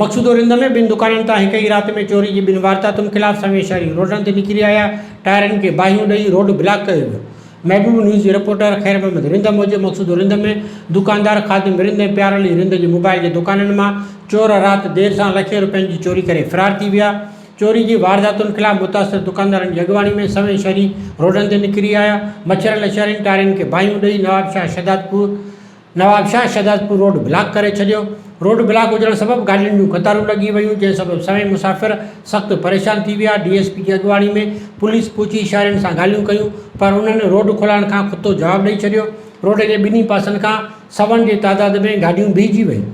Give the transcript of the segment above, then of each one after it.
مقصوده رند ۾ ٻن دڪانن تان هڪ ئي رات ۾ چوري جي ٻن وارداتن خلاف سوين شهري روڊن تي نڪري آيا، ٽائرن کي باهيون ڏئي روڊ بلاڪ ڪيو ويو. محبوب نيوز جي رپورٽر خير محمد رند موجب مقصوده رند ۾ دڪاندار خادم رند ۽ پيار علي رند جي موبائل جي دڪانن مان چور رات دير سان لکين روپين جي چوري ڪري فرار ٿي ويا، چوري جي وارداتن خلاف متاثر دڪاندارن جي اڳواڻي ۾ سوين شهري روڊن تي نڪري آيا، مڇرن لڇرين ٽائرن کي باهيون ڏئي نوابشاهه شهدادپور. نوابشاهه شهدادپور روڊ بلاڪ ڪري ڇڏيو، روڊ بلاڪ هجڻ سبب گاڏين جون قطارون لڳي ويون، جنهن سبب سوين مسافر سخت پريشان ٿي ويا، ڊي ايس پي جي اڳواڻي ۾ پوليس پهچي شهرين سان ڳالهيون ڪيون پر انهن روڊ کولائڻ کان ڪتو جواب ڏئي ڇڏيو، روڊ جي ٻنهي پاسن کان سون جي تعداد ۾ گاڏيون بيهجي ويون.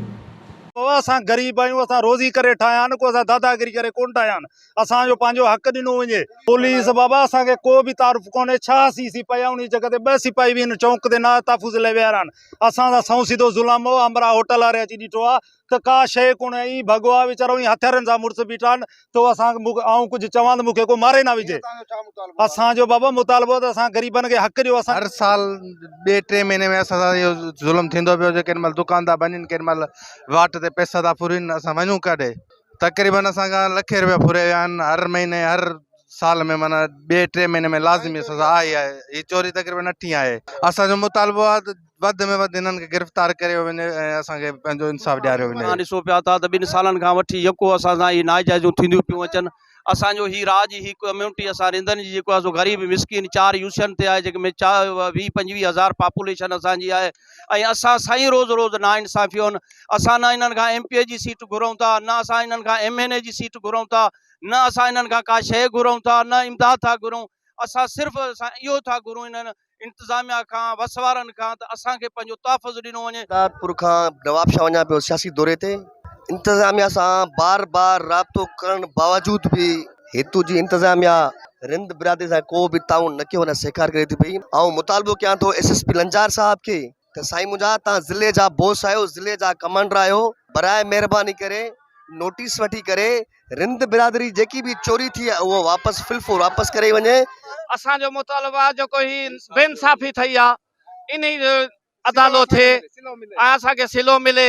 بابا اسان غريب آهيون اسان روزي ڪري ٺاهيا آهن ڪو اسان داداگيري ڪري ڪونه ٺاهيا آهن. اسان جو پنهنجو حق ڏنو وڃي. پوليس، بابا اسان کي ڪو به تعارف ڪونهي، ڇهه سي سپاهي ۽ انهيء جڳهه تي ٻه سپاهي به هن چونڪ تي ناهه تحفظ لاء ويهارا آهن. اسان سان سنئون سڌو ظلم هو. همراهه هوٽل واري اچي ڏٺو آهي ته ڪا شيء ڪونهي ۽ ڀڳوا ويچارو ۽ هٿيارن سان مڙس بيٺا آهن ته هو اسان کي آئون ڪجهه چوان ته مون کي ڪو ماري نه وجهي. اسان جو بابا مطالبو آهي ته اسان غريبن کي حق ڏيو. اسان. هر سال ٻئي ٽئين مهيني ۾ اسان سان اهو ظلم ٿيندو پيو هجي. ڪيڏي مهل دڪان ٿا ڀڃين، ڪيڏي مهل واٽ تي پئسا ٿا ڦرين، اسان وڃون ڪاڏي؟ تقريبن اسان کان لکين روپيا ڦريا ويا آهن هر مهيني هر سال ۾ معنيٰ ٻئي ٽئين مهيني ۾ لازمي سزا آهي ئي آهي هي چوري تقريبن اٺين آهي اسان جو مطالبو آهي ته وڌ ۾ وڌ هنن کي گرفتار ڪريو وڃي ۽ اسان کي پنهنجو انصاف ڏياريو وڃي. توهان ڏسو پيا ٿا ته ٻن سالن کان وٺي يڪو اسان سان هي ناجائزيون ٿينديون پيون اچن اسان جو هي راڄ هي ڪميونٽي اسان رندن جي جيڪو آهي سو غريب مسڪين چار يوسين تي آهي جنهن ۾ چار ويهه پنجويهه هزار پاپوليشن اسان جي آهي ۽ اسان سائين روز روز ناانصافيون اسان نه انهن کان ايم پي اي جي سيٽ گهرون ٿا نه اسان انهن کان ايم اين اي جي سيٽ گهرون ٿا نه اسان انهن کان ڪا شيء گهرون ٿا نه امداد ٿا گهرون اسان صرف اسان اهو ٿا گهرون انهن انتظاميا کان وس وارن کان ته اسان کي پنهنجو تحفظ ڏنو وڃي. شهداد پور کان نوابشاهه وڃان پيو سياسي دوري تي انتظاميا سان بار بار رابطو ڪرڻ باوجود به هتون جي انتظاميا رند برادري سان ڪو به تعاون نه ڪيو نه سهڪار ڪري ٿي پئي آئون مطالبو ڪيان ٿو ايس ايس پي لنجار صاحب کي ته سائين منهنجا توهان ضلعي جا بوس آهيو ضلعي جا ڪمانڊر آهيو براء مهرباني ڪري نوٽيس وٺي ڪري رند برادري جيڪي به چوري ٿي آهي اهو واپس في الفور واپس ڪري وڃي اسان جو مطالبو آهي جيڪو هي بي انصافي ٿئي آهي انهي جو ادالو ٿئي ۽ اسان کي صلو ملي.